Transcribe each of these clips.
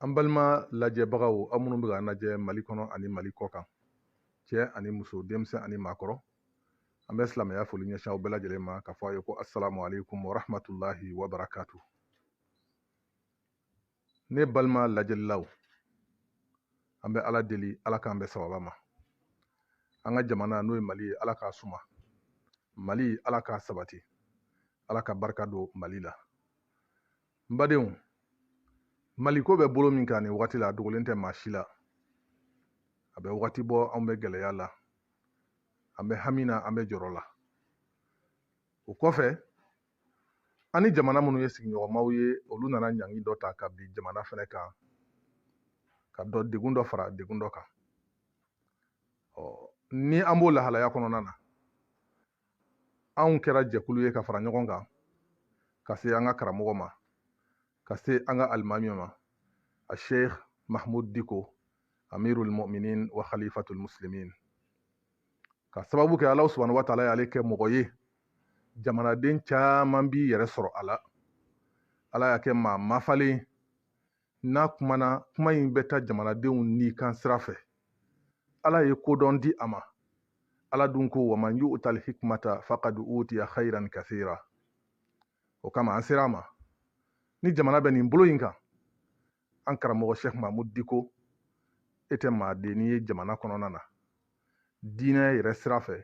an balima lajɛbagaw aw minnu bɛ k'an lajɛ mali kɔnɔ ani mali kɔ kan cɛ ani muso denmisɛn ani maakɔrɔ an bɛ silamɛya foli ɲɛsin aw bɛɛ lajɛlen ma k'a fɔ aw ye ko asalamu aleykum warahmatulahi wabarakatu ne balima lajɛlilaw an bɛ ala deli ala k'an bɛn sawaba ma an ka jamana n'o ye mali ye ala k'a suma mali ala k'a sabati ala ka barika don mali la n badenw maliko bɛ bolo min kan nin wagati la a dogolen tɛ maa si la a bɛ wagati bɔ anw bɛ gɛlɛya la an bɛ hami na an bɛ jɔrɔ la o kɔfɛ an ni jamana minnu ye sigiɲɔgɔnmaw ye olu nana ɲangi dɔ ta ka bin jamana fɛnɛ kan ka dɔ degun dɔ fara degun dɔ kan ɔ ni an b'o lahalaya kɔnɔna na anw kɛra jɛkulu ye ka fara ɲɔgɔn kan ka se an ka karamɔgɔ ma ka se an ka alimami ma a sheikh mahmud diko amirul mu'minin wa khalifatul muslimin ka sababu kɛ alahu subhanahu wa taala y'ale kɛ mɔgɔ ye jamanaden caman b'i yɛrɛ sɔrɔ a la ala y'a kɛ maa mafalen n'a kumana kuma in bɛ taa jamanadenw ni kan sira fɛ ala ye kodɔn di a ma ala dun ko waman yu'tal hikmata fakad utiya khairan kathira o kama an sera a ma ni jamana bɛ nin bolo in kan an karamɔgɔ sheikh mahmud diko e tɛ maadenni ye jamana kɔnɔna na diinɛ yɛrɛ sira fɛ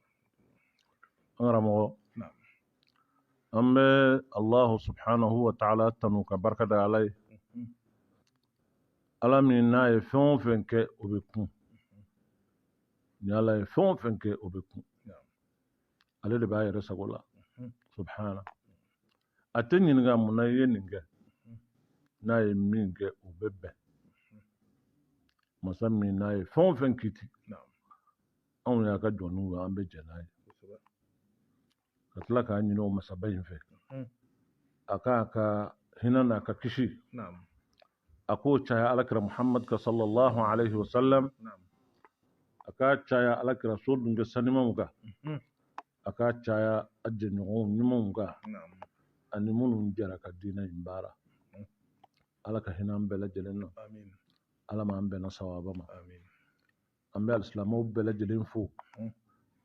an karamɔgɔ an bɛ alahu subhanahu wa taala tanu ka barika da ala ye ala min n'a ye fɛn o fɛn kɛ o bɛ kun ni ala ye fɛn o fɛn kɛ o bɛ kun ale de b'a yɛrɛ sago la subhana a tɛ ɲininka mun na i ye nin kɛ n'a ye min kɛ o bɛ bɛn masa min n'a ye fɛn o fɛn kiti anw y'a ka jɔnniw ye an bɛ jɛn n'a ye ka tila k'a ɲini o masaba in fɛ hmm. a k'a ka hinɛ n'a ka kisi a k'o caya alakira muhamad kan sallallahu alaihi wasallam a k'a caya alakira so dunke sanimaw kan hmm. a k'a caya a jɛɲɔgɔnw ɲumanw kan ani minnu jɛra ka diinɛ in baara hmm. ala ka hinɛ an bɛɛ lajɛlen na ala m'an bɛnna sawaba ma an bɛ alisilamɛw bɛɛ lajɛlen fo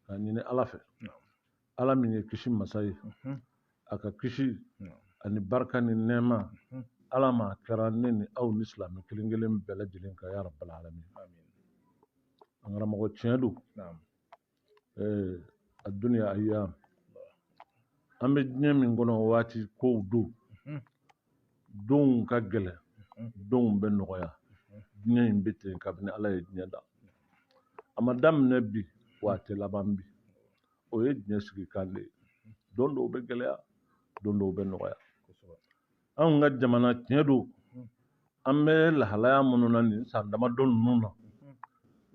ka ɲini ala fɛ ala min ye kisi masa ye a ka kisi ani barika ni nɛɛma ala m'a kɛra ne ni aw ni silamɛ kelen kelen bɛɛ lajɛlen kan ya rabbal alamin an karamɔgɔ tiɲɛ don eh, a duniya ayyam an bɛ diɲɛ min kɔnɔ waati kow don mhm. dɔw ka gɛlɛn mhm. dɔw bɛ nɔgɔya mhm. diɲɛ in bɛ ten kabini ala ye diɲɛ da a ma daminɛ bi wa a tɛ laban bi o ye diɲɛ sigikan de ye don dɔw bɛ gɛlɛya don dɔw bɛ nɔgɔya anw ka jamana tiɲɛ don an bɛ lahalaya minnu na nin san damadɔ ninnu na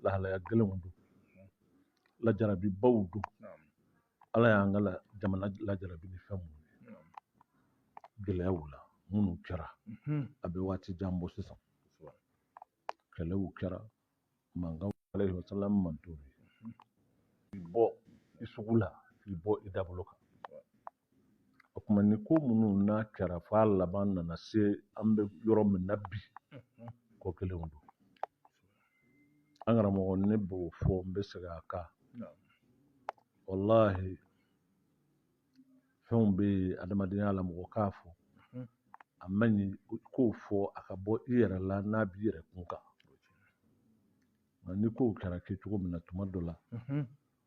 lahalaya gɛlɛnw don lajarabibaw don ala y'an ka jamana lajarabi ni fɛn minnu ye gɛlɛyaw la minnu kɛra a bɛ waati jan bɔ sisan kɛlɛw kɛra mankan alayhi wa sallam man t'o ye bɔ i sugu la k'i bɔ i dabolo kan o tuma nin ko minnu kɛra f'a laban nana se an bɛ yɔrɔ min na bi ko kelenw don an karamɔgɔ ne b'o fɔ n bɛ segin a kan walahi fɛnw bɛ yen adamadenya la mɔgɔ k'a fɔ a man ɲi i k'o fɔ a ka bɔ i yɛrɛ la n'a b'i yɛrɛ kun kan nka nin kow kɛra kɛcogo min na tuma dɔ la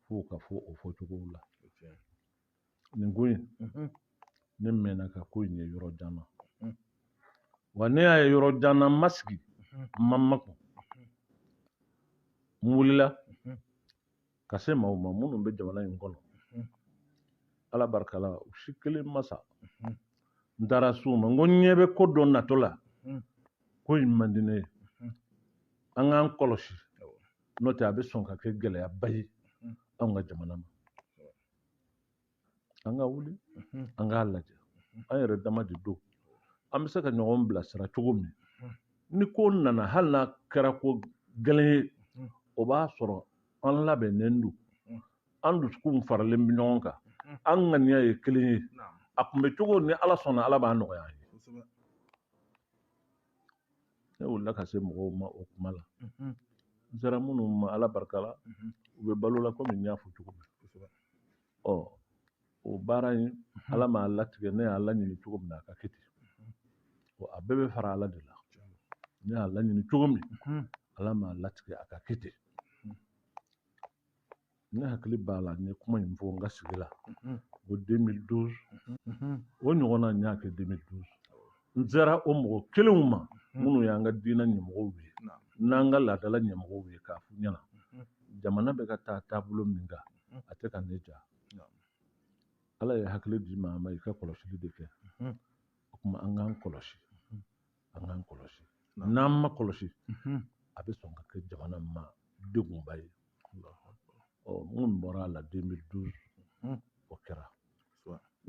f'o ka fɔ o fɔcogow la nin ko in ne mɛnna ka ko in ye yɔrɔ jan na wa ne y'a ye yɔrɔ jan na n ma sigi n ma makun n wulila ka se maaw ma minnu bɛ jamana in kɔnɔ ala barika la u si kelen ma sa n taara s'u ma n ko n ɲɛ bɛ ko dɔ natɔ la ko in man di ne ye an k'an kɔlɔsi n'o tɛ a bɛ sɔn ka kɛ gɛlɛyaba ye anw ka jamana ma an ka wuli mhm. an k'a lajɛ mhm. an yɛrɛ dama de don an bɛ se ka ɲɔgɔn bilasira cogo min mhm. ni ko nana hali n'a kɛra ko gɛlɛn ye o b'a sɔrɔ an labɛnnen don an dusukunw faralen bɛ ɲɔgɔn kan an ŋaniya ye kelen ye a kunbɛncogo ni ala sɔnna ala b'a nɔgɔya an ye Ne wulila ka se mɔgɔw ma o kuma la n sera minnu ma ala barika la u bɛ balo la komi n y'a fɔ cogo min ɔ o baara in ala m'a latigɛ ne y'a laɲini cogo min na a ka kɛ ten ɔ a bɛɛ bɛ fara ala de la ne y'a laɲini cogo min ala m'a latigɛ a ka kɛ ten ne hakili b'a la n ye kuma in fɔ n ka sigi la ko 2012 o ɲɔgɔnna n y'a kɛ 2012 n sera o mɔgɔ kelenw ma minnu y'an ka diinɛ ɲɛmɔgɔw ye n'an ka laadala ɲɛmɔgɔw ye k'a f'u ɲɛna jamana bɛ ka taa taabolo min kan a tɛ ka ne diya ala ye hakili di maa ma i ka kɔlɔsili de kɛ o tuma an k'an kɔlɔsi an k'an kɔlɔsi n'an m'an kɔlɔsi a bɛ sɔn ka kɛ jamana in ma degunba ye ɔ minnu bɔra a la 2012 o kɛra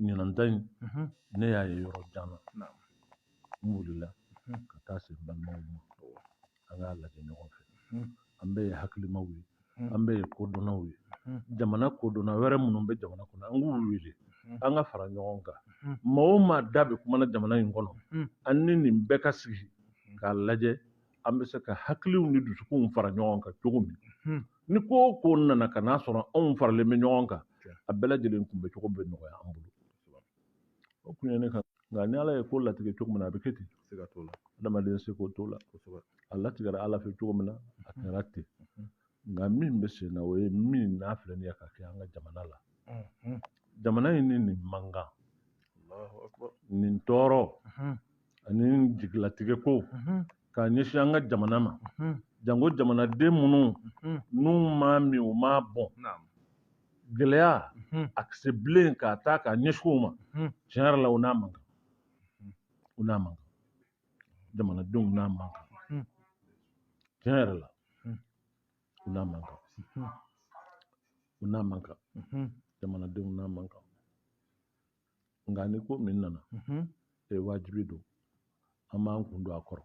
ɲinanta in ne y'a ye yɔrɔ jan na n wulila ka taa se n balimaw ma an k'a lajɛ ɲɔgɔn fɛ an bɛɛ ye hakilimaw ye an bɛɛ ye kodɔnnaw ye jamana kodɔnna wɛrɛ minnu bɛ jamana kɔnɔ an k'u wele an ka fara ɲɔgɔn kan maa o maa da bɛ kumana jamana in kɔnɔ an ni nin bɛɛ ka sigi k'a lajɛ an bɛ se ka hakiliw ni dusukunw fara ɲɔgɔn kan cogo min ni ko o ko nana ka n'a sɔrɔ anw faralen bɛ ɲɔgɔn kan a bɛɛ lajɛlen kunbɛcogo bɛ nɔgɔya an bolo o kun ye ne ka nka ni ala ye ko latigɛ cogo min na a bɛ kɛ ten sika t'o la adamaden seko t'o la kosɛbɛ a latigɛra ala fɛ cogo min na a kɛra ten nka min bɛ sen na o ye min n'a filɛ nin ye ka kɛ an ka jamana la jamana in ni nin mankan nin tɔɔrɔ ani jigilatigɛ ko k'a ɲɛsin an ka jamana ma janko jamanaden minnu n'u m'a min u m'a bɔn gɛlɛya ka se bilen k'a ta k'a ɲɛsin u ma tiɲɛ yɛrɛ la u n'a man kan u n'a man kan jamanadenw n'a man kan tiɲɛ yɛrɛ la u n'a man kan u n'a man kan jamanadenw n'a man kan nka ni ko min nana mhm. e wajibi don an b'an kun don a kɔrɔ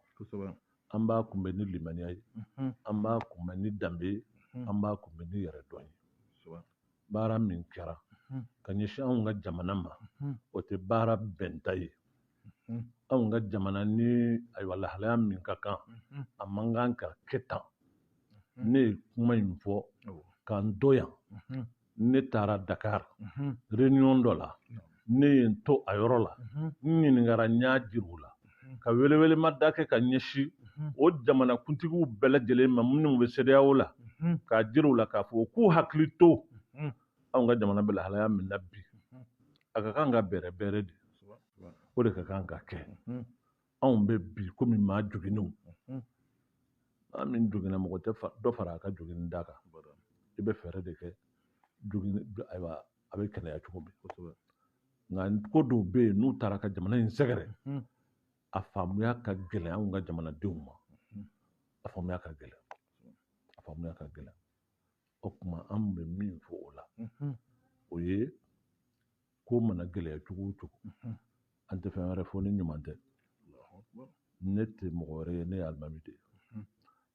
an b'a kunbɛ ni limaniya ye mhm. an b'a kunbɛ ni danbe ye mhm. an b'a kunbɛ ni yɛrɛdɔn ye baara min kɛra ka ɲɛsin anw ka jamana ma o tɛ baara bɛnta ye anw ka jamana ni ayiwa lahalaya min ka kan a man kan ka kɛ tan ne ye kuma in fɔ k'an to yan ne taara dakar réunion dɔ la ne ye n to a yɔrɔ la n ɲininkara n y'a jir'u la ka welewelema da kɛ ka ɲɛsi o jamana kuntigiw bɛɛ lajɛlen ma minnu bɛ sedeyawo la k'a jir'u la k'a fɔ k'u hakili to anw ka jamana bɛ lahalaya min na bi a ka kan ka bɛrɛbɛrɛ de o de ka kan ka kɛ anw bɛ bi komi maa joginnenw maa min joginna mɔgɔ tɛ dɔ fara a ka joginni da kan i bɛ fɛɛrɛ de kɛ joginni ayiwa a bɛ kɛnɛya cogo min kosɛbɛ nka ko dɔw bɛ yen n'u taara ka jamana in sɛgɛrɛ a faamuya ka gɛlɛn anw ka jamanadenw ma a faamuya ka gɛlɛn a faamuya ka gɛlɛn o tuma an bɛ min fɔ o la o ye ko mana gɛlɛya cogo o cogo an tɛ fɛn wɛrɛ fɔ ni ɲuman tɛ ne tɛ mɔgɔ wɛrɛ ye ne ye alimami de ye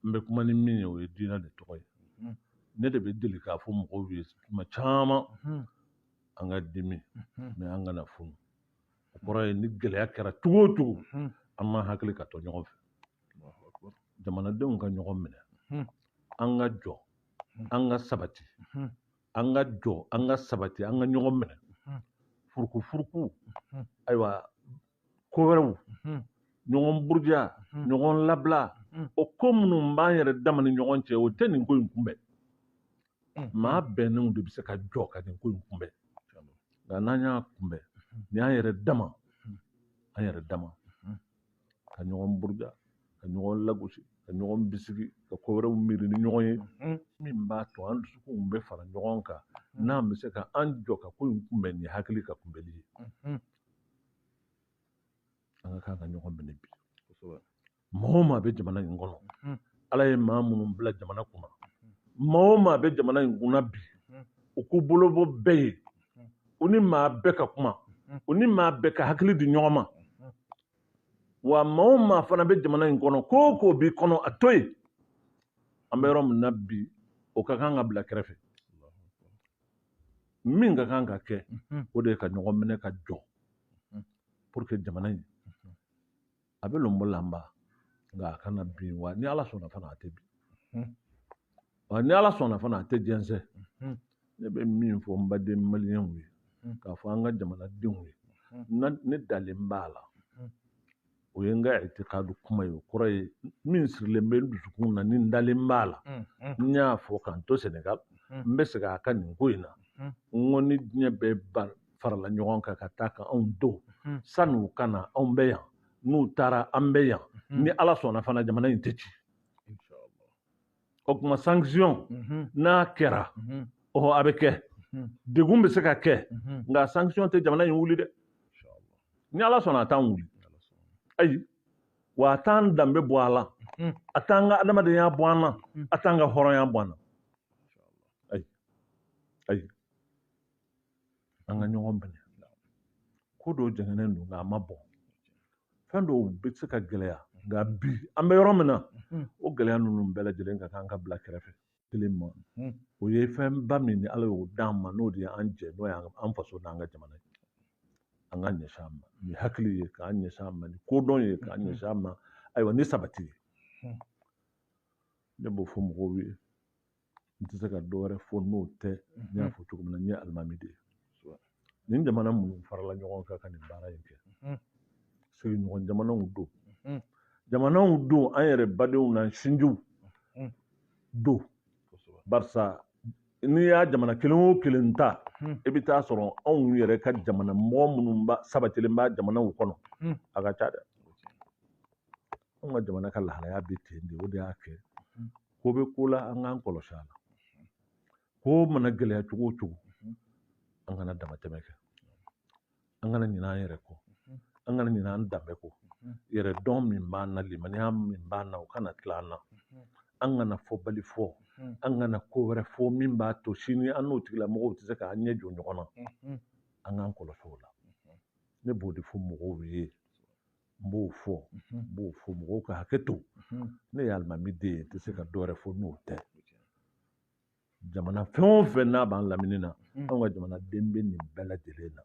n bɛ kuma ni min ye o ye diinɛ de tɔgɔ ye ne de bɛ deli k'a fɔ mɔgɔw ye tuma caman an ka dimi mɛ an kana funu o kɔrɔ ye ni gɛlɛya kɛra cogo o cogo an ma hakili ka to ɲɔgɔn fɛ jamanadenw ka ɲɔgɔn minɛ an ka jɔ an ka sabati an ka jɔ an ka sabati an ka ɲɔgɔn minɛ furuku furuku ayiwa ko wɛrɛw ɲɔgɔn buruja ɲɔgɔn labila o ko minnu b'an yɛrɛ dama ni ɲɔgɔn cɛ o tɛ nin ko in kunbɛn maa bɛnnenw de bɛ se ka jɔ ka nin ko in kunbɛn nka n'an y'a kunbɛn ni an yɛrɛ dama an yɛrɛ dama ka ɲɔgɔn buruja ka ɲɔgɔn lagosi ka ɲɔgɔn bisigi ka ko wɛrɛw miiri ni ɲɔgɔn ye min b'a to an dusukunw bɛ fara ɲɔgɔn kan n'an bɛ se ka an jɔ ka ko in kunbɛn ni hakili ka kunbɛli ye an ka kan ka ɲɔgɔn minɛ bi maa o maa bɛ jamana in kɔnɔ mhm. ala ye maa minnu bila jamana kunna maa o maa bɛ jamana in kunna bi u k'u bolo bɔ bɛɛ ye u ni maa bɛɛ ka kuma u ni maa bɛɛ ka hakili di ɲɔgɔn ma wa maa o maa fana bɛ jamana in kɔnɔ ko o ko b'i kɔnɔ a to yen an bɛ yɔrɔ min na bi o ka kan ka bila kɛrɛfɛ min ka kan ka kɛ o de ye ka ɲɔgɔn minɛ ka jɔ pour que jamana in a bɛ lɔnbɔlanba nka a kana bin wa ni ala sɔnna fana a tɛ bin wa ni ala sɔnna fana a tɛ jɛnsɛn ne bɛ min fɔ n baden maliyɛnw ye k'a fɔ an ka jamanadenw ye ne dalen b'a la o ye n ka itikadu kuma ye o kɔrɔ ye min sirilen bɛ n dusukun na ni n dalen b'a la n y'a fɔ k'an to sɛnɛgali n bɛ segin a kan nin ko in na n ko ni diɲɛ bɛɛ ban farala ɲɔgɔn kan ka taa ka a dɔn san'u ka na anw bɛ yan n'u taara an bɛ yan ni ala sɔnna fana jamana in tɛ ci o tuma sanction n'a kɛra ɔhɔ a bɛ kɛ degun bɛ se ka kɛ nka sanction tɛ jamana in wuli dɛ ni ala sɔnna a t'an wuli ayi wa a t'an danbe bɔ a la a t'an ka adamadenya bɔ an na a t'an ka hɔrɔnya bɔ an na ayi ayi an ka ɲɔgɔn minɛ ko dɔw jɛngɛnen don nka a ma bɔn fɛn dɔw bɛ se ka gɛlɛya nka bi an bɛ yɔrɔ min na o gɛlɛya ninnu bɛɛ lajɛlen ka kan ka bila kɛrɛfɛ kelen ma o ye fɛnba min ni ala y'o d'an ma n'o de ye an jɛ n'o ye an faso n'an ka jamana ye an ka ɲɛsin a ma ni hakili ye k'an ɲɛsin a ma ni kodɔn ye k'an ɲɛsin a ma ayiwa ni sabati ye ne b'o fɔ mɔgɔw ye n tɛ se ka dɔ wɛrɛ fɔ n'o tɛ n y'a fɔ cogo min na n ye alimami de ye nin jamana minnu farala ɲɔgɔn kan ka nin baara in kɛ sigiɲɔgɔn jamanaw don jamanaw don an yɛrɛ badenw n'an sinjiw don barisa n'i y'a jamana kelen o kelen ta i bɛ taa sɔrɔ anw yɛrɛ ka jamana mɔgɔ minnu sabatilen b'a jamanaw kɔnɔ a ka ca dɛ anw ka jamana ka lahalaya bɛ ten de o de y'a kɛ ko bɛ ko la an k'an kɔlɔsi a la ko mana gɛlɛya cogo o cogo an kana damatɛmɛ kɛ an kana ɲinɛ an yɛrɛ kɔ an kana ɲinɛ an danbe kɔ yɛrɛdɔn min b'an na limaniya min b'an na o kana tila an na an kana fɔbali fɔ an kana ko wɛrɛ fɔ min b'a to sini an n'o tigilamɔgɔw tɛ se k'an ɲɛ jɔ ɲɔgɔn na an k'an kɔlɔsi o la ne b'o de fɔ mɔgɔw ye n b'o fɔ n b'o fɔ mɔgɔw ka hakɛ to ne ye alimami de ye n tɛ se ka dɔ wɛrɛ fɔ n'o tɛ jamana fɛn o fɛn n'a b'an lamini na anw ka jamanaden bɛ nin bɛɛ lajɛlen na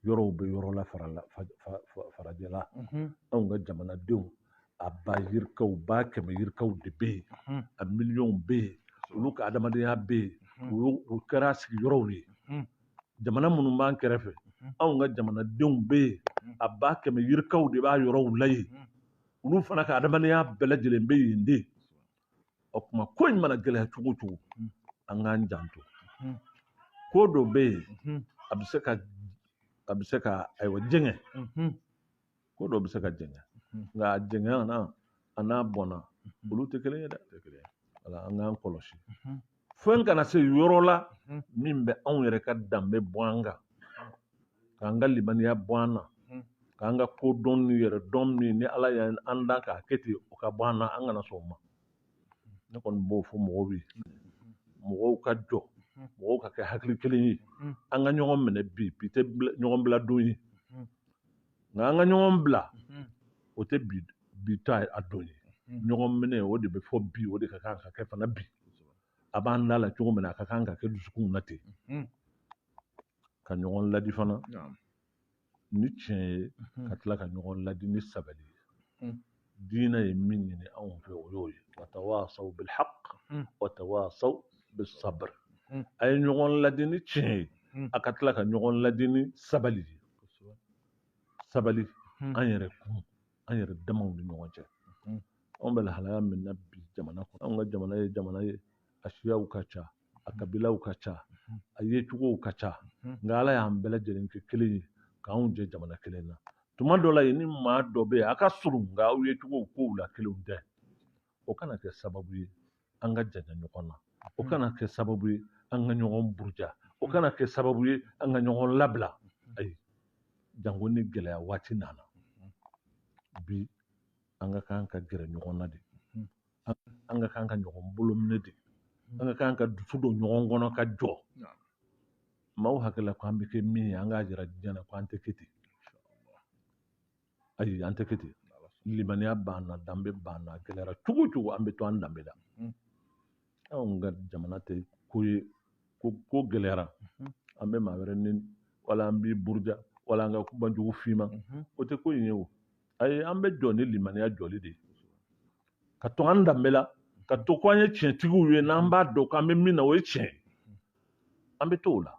yɔrɔw bɛ yɔrɔ la farala farajɛla anw ka jamanadenw a ba yirikaw ba kɛmɛ yirikaw de bɛ yen a miliyɔnw bɛ yen olu ka adamadenya bɛ yen o kɛra u sigiyɔrɔw ye jamana minnu b'an kɛrɛfɛ mhm. anw ka jamanadenw bɛ yen mhm. a ba kɛmɛ yirikaw de b'a yɔrɔw la yen mhm. olu fana ka adamadenya bɛɛ lajɛlen bɛ yen de o tuma ko in mana gɛlɛya cogo o cogo an k'an janto ko dɔ bɛ yen a bɛ se ka a bɛ se ka ayiwa jɛngɛ ko dɔ bɛ se ka jɛngɛ nka a jɛngɛna a n'a bɔnna olu tɛ kelen ye dɛ o la an k'an kɔlɔsi fɛn kana se yɔrɔ la min bɛ anw yɛrɛ ka danbe bɔ an kan k'an ka limaniya bɔ an na k'an ka kodɔn ni yɛrɛdɔn min ni ala y'an da k'a kɛ ten o ka bɔ an na an kana sɔn o ma ne kɔni b'o fɔ mɔgɔw ye mɔgɔw ka jɔ mɔgɔw ka kɛ hakili kelen ye an ka ɲɔgɔn minɛ bi bi tɛ ɲɔgɔn bila don ye nka an ka ɲɔgɔn bila o tɛ bi ta a don ye ɲɔgɔn minɛ o de bɛ fɔ bi o de ka kan ka kɛ fana bi a b'an da la cogo min na a ka kan ka kɛ dusukunw na ten ka ɲɔgɔn ladi fana ni tiɲɛ ye mhm. ka tila ka ɲɔgɔn ladi ni sabali ye mhm. diinɛ ye min ɲini anw fɛ o y'o ye watawasaw bilhaq mhm. watawasaw bisabr a ye ɲɔgɔn ladi ni tiɲɛ ye a ka tila ka ɲɔgɔn ladi ni sabali ye sabali an yɛrɛ kun an yɛrɛ damaw ni ɲɔgɔn cɛ anw bɛ lahalaya min na bi jamana kɔnɔ anw ka jamana ye jamana ye a siyaw ka ca a kabilaw ka ca a yecogow ka ca nka ala y'an bɛɛ lajɛlen kɛ kelen ye k'anw jɛ jamana kelen na tuma dɔ la e ni maa dɔ bɛ yen a ka surun nka aw yecogow kow la kelenw tɛ o kana kɛ sababu ye an ka janya ɲɔgɔn na o kana kɛ sababu ye an ka ɲɔgɔn buruja o kana kɛ sababu ye an ka ɲɔgɔn labila ayi janko ni gɛlɛya waati nana bi an ka kan ka gɛrɛ ɲɔgɔn na de an ka kan ka ɲɔgɔn bolo minɛ de hmm. an ka kan ka dusu don ɲɔgɔn kɔnɔ ka jɔ maaw hakili la ko an bɛ kɛ min ye an k'a jira diɲɛ na ko an tɛ kɛ ten ayi an tɛ kɛ ten limaniya b'an na danbe b'an na a gɛlɛyara cogo o cogo an bɛ to an danbe la hmm. anw ka jamana tɛ ko ye ko ko gɛlɛyara hmm. an bɛ maa wɛrɛ nɛni wala an b'i buruja wala an ka kuma jugu f'i ma o tɛ ko in ye o ayi an bɛ jɔ ni limaniya jɔli de ye ka to an danbe la ka to ko an ye tiɲɛtigiw ye n'an b'a dɔn k'an bɛ min na o ye tiɲɛ ye an bɛ to o la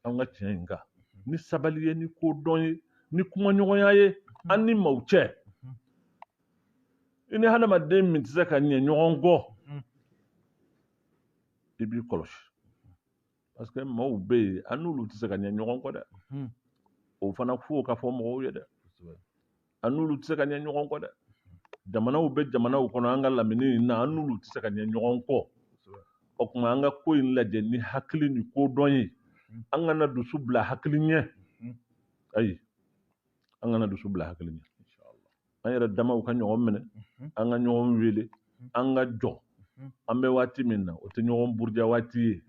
an ka tiɲɛ in kan ni sabali ye ni kodɔn ye ni kumaɲɔgɔnya ye an ni maaw cɛ i ni hadamaden min tɛ se ka ɲɛ ɲɔgɔn kɔ i b'i kɔlɔsi parce que maaw bɛ yen an n'olu tɛ se ka ɲɛ ɲɔgɔn kɔ dɛ mhm. o fana fo ka fɔ mɔgɔw ye dɛ an n'olu tɛ se ka ɲɛ ɲɔgɔn kɔ dɛ jamanaw bɛ jamanaw kɔnɔ an ka lamini in na an n'olu tɛ se ka ɲɛ ɲɔgɔn kɔ o tuma an ka ko in lajɛ ni hakili ni kodɔn ye mhm. an kana dusu bila hakili ɲɛ mhm. ayi an kana dusu bila hakili ɲɛ an yɛrɛ damaw ka ɲɔgɔn minɛ an ka ɲɔgɔn wele an ka jɔ an bɛ waati min na o tɛ ɲɔgɔn buruja waati ye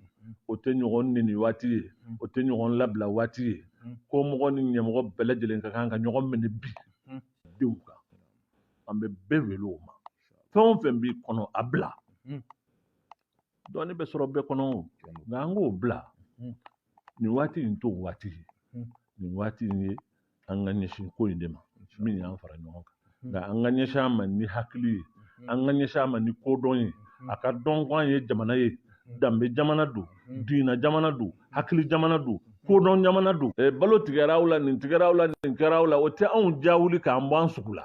o tɛ ɲɔgɔn nɛni waati ye o tɛ ɲɔgɔn labila waati ye kɔmɔgɔ ni ɲɛmɔgɔ bɛɛ lajɛlen ka kan ka ɲɔgɔn minɛ bi don in kan an bɛ bɛɛ wele o ma fɛn o fɛn b'i kɔnɔ a bila dɔɔni bɛ sɔrɔ bɛɛ kɔnɔ nka an k'o bila nin waati in t'o waati ye nin waati in ye an ka ɲɛsin ko in de ma min y'an fara ɲɔgɔn kan nka an ka ɲɛsin a ma ni hakili ye an ka ɲɛsin a ma ni kodɔn ye a ka dɔn ko an ye jamana ye danbe jamana don diinɛ jamana don hakili jamana don kodɔn jamana don eh, balo tigɛra aw la nin tigɛra aw la nin kɛra aw la o tɛ anw ja wuli k'an bɔ an sugu la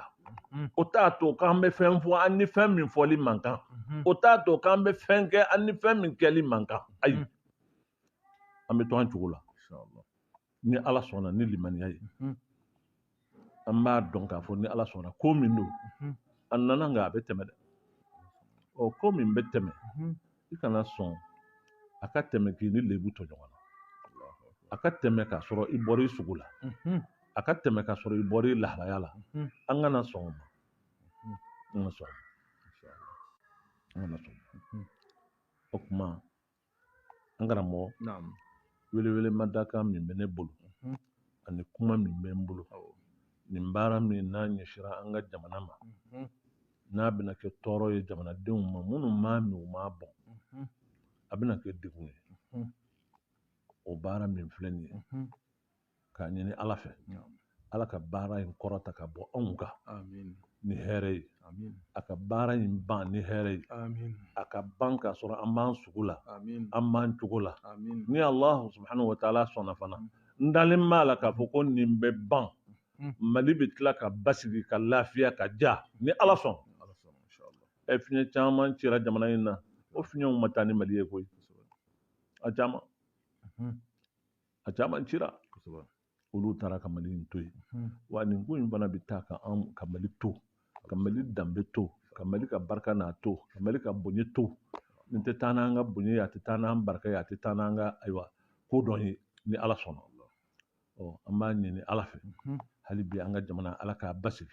mm. o t'a to k'an bɛ fɛn fɔ an ni fɛn min fɔli man kan mm-hmm. o t'a to k'an bɛ fɛn kɛ an ni fɛn min kɛli man kan ayi mm. an bɛ to an cogo la ni ala sɔnna ni limaniya ye an b'a dɔn k'a fɔ ni ala sɔnna ko min don a nana nka a bɛ tɛmɛ dɛ ɔ ko min bɛ tɛmɛ i kana sɔn a ka tɛmɛ k'i ni lebu to ɲɔgɔn na a ka tɛmɛ k'a sɔrɔ i bɔra i sugu la a ka tɛmɛ k'a sɔrɔ i bɔra i lahalaya la an kana sɔn o ma an ka sɔn an kana sɔn o tuma N karamɔgɔ welewele mada kan min bɛ ne bolo ani kuma min bɛ n bolo nin baara min n'a ɲɛsira an ka jamana ma n'a bɛna kɛ tɔɔrɔ ye jamanadenw ma minnu m'a min u m'a bɔn a bɛna kɛ degun ye o baara min filɛ nin ye k'a ɲini ala fɛ ala ka baara in kɔrɔta ka bɔ anw kan ni hɛrɛ ye a ka baara in ban ni hɛrɛ ye a ka ban k'a sɔrɔ an b'an sugu la an b'an cogo la ni allahu subhanahu wa taala sɔnna fana n dalen b'a la k'a fɔ ko nin bɛ ban hmm. mali bɛ tila ka basigi ka lafiya ka ja ni ala sɔnna ɛ fiɲɛ caman cira jamana in na o fiɲɛw ma taa ni mali ye koyi a caman hmm. a caman cira olu taara ka mali in to yen hmm. wa nin ko in fana bɛ taa ka an ka mali to ka mali danbe to ka mali ka barika n'a to ka mali ka bonya to nin tɛ taa n'an ka bonya ye a tɛ taa n'an barika ye a tɛ taa n'an ka ayiwa ko dɔ ye ni ala sɔnna ɔ an b'a ɲini ala fɛ hmm. hali bi an ka jamana ala k'a basigi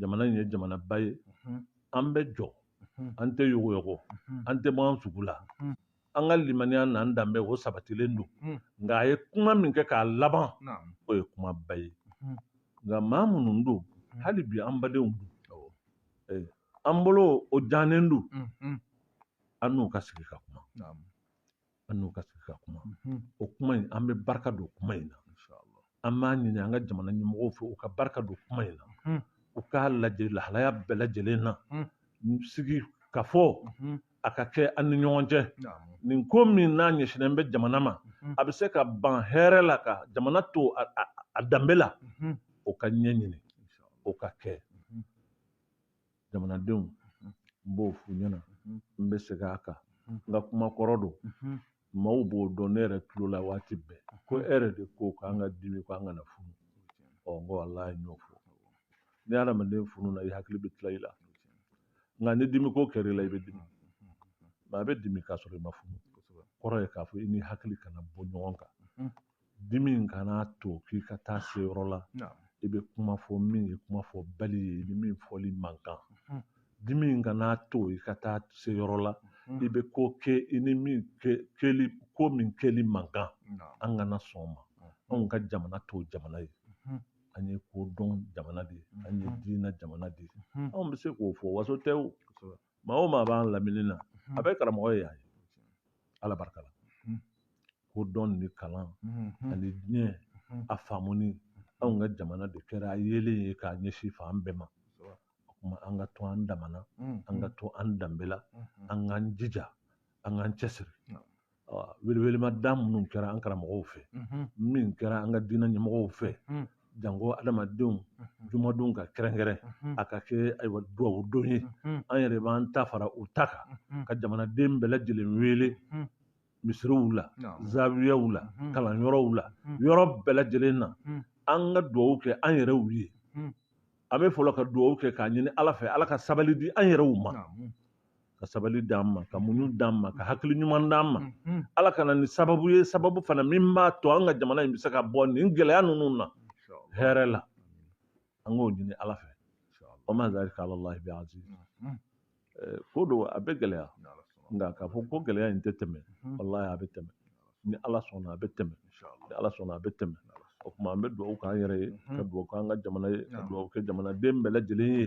jamana in ye jamanaba ye an bɛ jɔ an tɛ yogoyogo an tɛ bɔ an sugu la an ka limaniya n'an danbe o sabatilen don nka a ye kuma min kɛ k'a laban o ye kumaba ye nka maa minnu don hali bi an badenw don an bolo o jalen don an n'u ka sigi ka kuma an n'u ka sigi ka kuma mhm. o kuma in an bɛ barika don kuma in na an b'a ɲini an ka jamana ɲɛmɔgɔw fɛ u ka barika don kuma in na mhm. u k'a lajɛ lahalaya bɛɛ lajɛlen na mhm. sigi ka fɔ a ka kɛ an ni ɲɔgɔn cɛ nin ko min n'a ɲɛsinnen bɛ jamana ma a bɛ se ka ban hɛrɛ la ka jamana to a danbe la o ka ɲɛɲini o ka kɛ jamanadenw n b'o f'u ɲɛna n bɛ segin a kan n ka kuma kɔrɔ don maaw b'o dɔn ne yɛrɛ tulo la waati bɛɛ ko e yɛrɛ de ko k'an ka dimi ko an kana funu ɔ n ko ala i n'a fɔ ni adamaden fununa i hakili bɛ tila i la nka ni dimiko kɛra i la i bɛ dimi maa bɛ dimi k'a sɔrɔ i ma funu kɔrɔ ye k'a fɔ i ni hakili kana bɔ ɲɔgɔn kan dimi in kana to k'i ka taa se yɔrɔ la i bɛ kuma fɔ min ye kuma fɔbali ye i ni min fɔli man kan dimi in kana to i ka taa se yɔrɔ la i bɛ ko kɛ i ni min kɛli ko min kɛli man kan an kana sɔn o ma anw ka jamana t'o jamana ye an ye kodɔn jamana de ye an ye diinɛ jamana de ye anw bɛ se k'o fɔ waso tɛ o maa o maa b'an lamini na a bɛɛ karamɔgɔ ye an ye ala barika la ko dɔn ni kalan ani diɲɛ a faamuni anw ka jamana de kɛra a yeelen ye ka ɲɛsin fan bɛɛ ma o tuma an ka to an damana an ka to an danbe la an k'an jija an k'an cɛsiri welewelemada minnu kɛra an karamɔgɔw fɛ min kɛra an ka diinɛ ɲɛmɔgɔw fɛ janko adamadenw jumadon ka kɛrɛnkɛrɛn a ka kɛ ayiwa dugawu don ye an yɛrɛ b'an ta fara u ta kan ka jamanaden bɛɛ lajɛlen wele misiriw la zawiyaw la kalanyɔrɔw la yɔrɔ bɛɛ lajɛlen na an ka dugawu kɛ an yɛrɛw ye an bɛ fɔlɔ ka dugawu kɛ k'a ɲini ala fɛ ala ka sabali di an yɛrɛw ma ka sabali d'an ma ka muɲu d'an ma ka hakili ɲuman d'an ma ala ka na ni sababu ye sababu fana min b'a to an ka jamana in bɛ se ka bɔ nin gɛlɛya ninnu na hɛrɛ la an k'o ɲini ala fɛ wa ma zalika ala lahi bi aziz eh, ko don a bɛ gɛlɛya nka k'a fɔ ko gɛlɛya in tɛ tɛmɛ walahi a bɛ tɛmɛ ni ala sɔnna a bɛ tɛmɛ ni ala sɔnna a bɛ tɛmɛ o tuma an bɛ dugawu k'an yɛrɛ ye ka dugawu k'an ka jamana ye ka dugawu kɛ jamanaden bɛɛ lajɛlen ye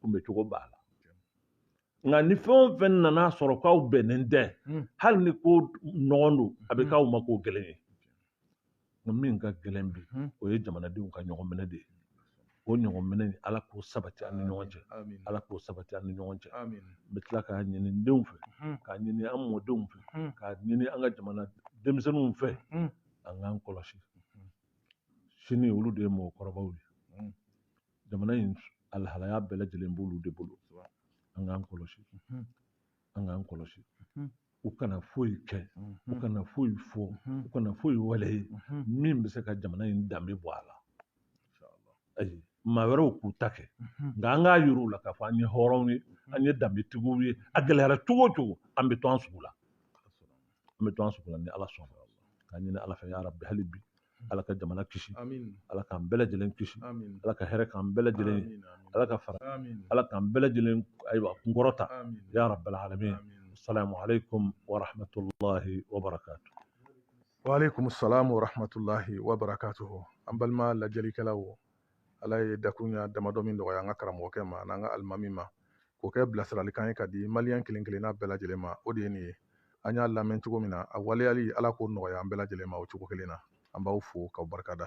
kunbɛcogo b'a la nka ni fɛn o fɛn nana a sɔrɔ k'aw bɛnnen tɛ hmm. hali ni ko nɔgɔn don a bɛ hmm. k'aw ma ko gɛlɛn ye nka min ka gɛlɛn bi hmm. o ye jamanadenw ka ɲɔgɔn minɛ de ye o ɲɔgɔn minɛ nin ala k'o sabati an ni ɲɔgɔn cɛ ala k'o sabati an ni ɲɔgɔn cɛ n bɛ tila k'a ɲini n denw fɛ k'a ɲini an mɔdenw fɛ k'a ɲini an ka jamana denmisɛnninw fɛ an k'an kɔlɔsi sini olu de ye mɔgɔkɔrɔbaw ye jamana in alhalaya bɛɛ lajɛlen b'olu de bolo an k'an kɔlɔsi an k'an kɔlɔsi u kana foyi kɛ u kana foyi fɔ u kana foyi waleya min bɛ se ka jamana in danbe bɔ a la ayi maa wɛrɛw k'u ta kɛ nka an k'a yira u la k'a fɔ an ye hɔrɔnw ye an ye danbetigiw ye a gɛlɛyara cogo o cogo an bɛ to an sugu la an bɛ to an sugu la ni ala sɔnna k'a ɲini ala fɛ ya rabbi hali bi ala ka jamana kisi ala k'an bɛɛ lajɛlen kisi ala ka hɛrɛ k'an bɛɛ lajɛlen ala ka fara ala k'an bɛɛ lajɛlen ayiwa kunkɔrɔta ya rabbal alamin assalamu alaikum wa rahmatullahi wa barakatuh wa alaikum assalam wa rahmatullahi wa barakatuh an balima lajɛlikɛlaw ala ye dakuɲa damadɔ min nɔgɔya an ka karamɔgɔkɛ ma an'an ka alimami ma k'o kɛ bilasiralikan ye k'a di maliyɛn kelen kelenna bɛɛ lajɛlen ma o de ye nin ye an y'a lamɛn cogo min na a waleyali ala k'o nɔgɔya an bɛɛ lajɛlen ma o cogo kelen na an b'aw fo k'aw barika da